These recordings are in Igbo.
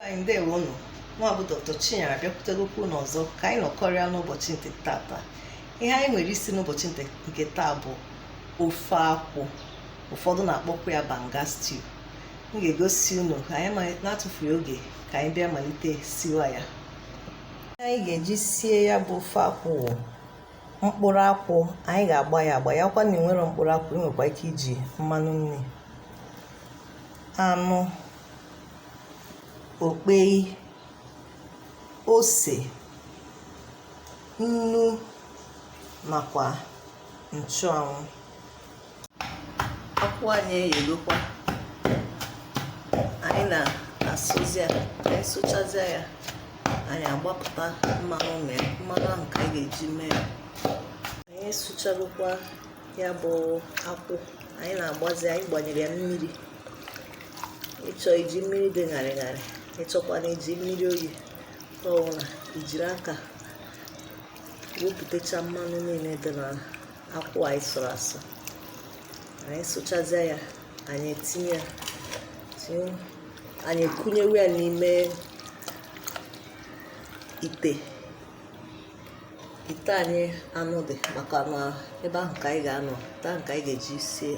anyị ndewo unu nwa bụ dr chinyere abịakwutegokwa unu ọzọ ka anyị nọkọrịa n'ụbọchị nke tata ihe anyị nwere isi n'ụbọchị nke taa bụ ofe akwụ ụfọdụ na-akpọkwa ya banga stew m ga-egosi unu ka anyị na-atụfughị oge ka anyị bịa malite siwa ya anyị ga-eji sie ya bụ ofe akwụ mkpụrụ akwụ anyị ga-agba ya agba ya wụkwa na enwerọ mkpụrụ akwụ ị nwekwa ike iji mmanụ nri anụ okpei ose nnu nakwa nchụanwụ akwụ anyị eyegokwa anyị na-asụzi ya anyị sụchazịa ya anyị agbapụta mmanụ na ya mmanụ ahụ ka anyị ga-eji mee ya anyị asụchagokwa ya bụ akwụ anyị na-agbazi ya anyị gbanyere ya mmiri ị chọọ iji mmiri dị ṅarị ṅarị ị chọkwanụ iji mmiri oyi ọ wụ na i jiri aka wepụtacha mmanụ niile dị na akwụ anyị sụrụ asụ anyị sụchazie ya anyị etinye ya anyị ekunyewe ya n'ime ite ite anyị anụ dị maka na ebe ahụ ka anyị ga-anọ ite a ka anyị ga-eji sie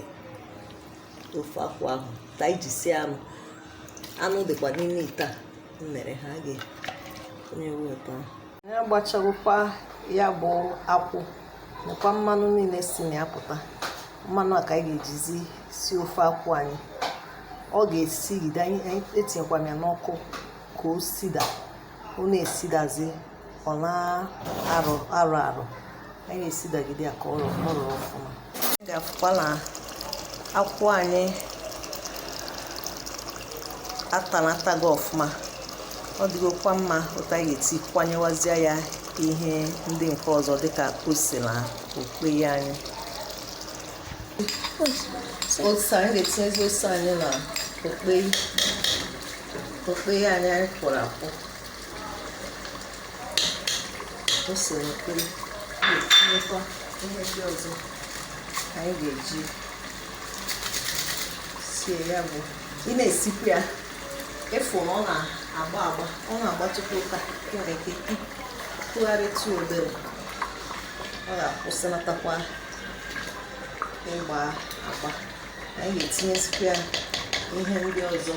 ofe akwụ ahụ ite anyị ji sie anụ anụ dịkwa n'ime ite a mere ha a ga-ekunyewe akwụ ahụ anyị agbachagokwa ya bụ akwụ nakwa mmanụ niile si na ya pụta mmanụ a ka anyị ga-ejizi sie ofe akwụ anyị ọ ga-esigide anyị etinyekwana ya n'ọkụ ka o sida ọ na-esidazi ọ na-arụ arụ arụ anyị esidagide ya ka ọ rụrụ ọfụma ga-afụkwa na akwụ anyị atanatago ọfụma ọ dịgokwa mma otu a anyị ga-etikwanyewazie ya ihe ndị nke ọzọ dịka ose na okpei anyị ose anyị ga-etinyezi ose anyị na okpei anyị anyị kwọrọ akwọ ose na okpei anyị etinyekwa ihe ndị ọzọ anyị ga-eji sie ya bụ ị na-esikwa ya ị fụ na ọ na-agba agba ọ na-agbatụkwa otu a ị nwere ike ịtụgharịtụ obere ọ ga-akwụsịlatakwa ịgba agba anyị ga-etinyezikwa ya ihe ndị ọzọ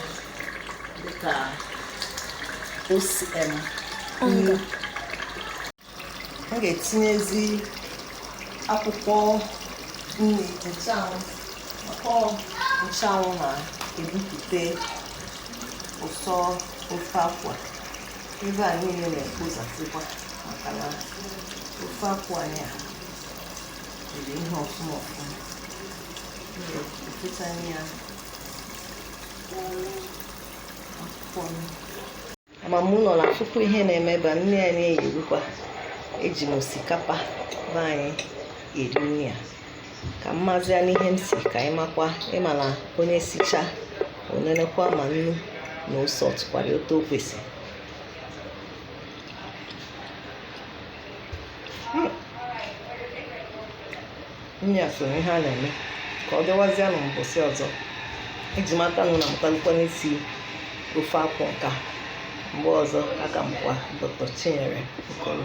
dịka ose, em, nnu. m ga-etinyezi akwụkwọ nri nchụanwụ maka ọ nchụanwụ na-ebupụta ụsọ ofe akwụ ebe a niile na-ekpozasịkwa maka na ofe akwụ anyị a jiri ihe ọfụma ọfụma m ga-efechanye ya ama m unu na-afụkwa ihe na-eme ebe a nri anyị eyirikwa eji m osikapa be anyị eri nri a ka m mazịa n'ihe m si ka ị makwa ị ma na onye sichaa o nenekwa ma nnu na ose ọ tụkwara otu o kwesịrị nya so ihe a na-eme ka ọ dịwazie na mbọsị ọzọ eji m aka na unu mụtalụkwa n'isi ofe akwụ nka mgbe ọzọ aka m kwa dr chinyere okoro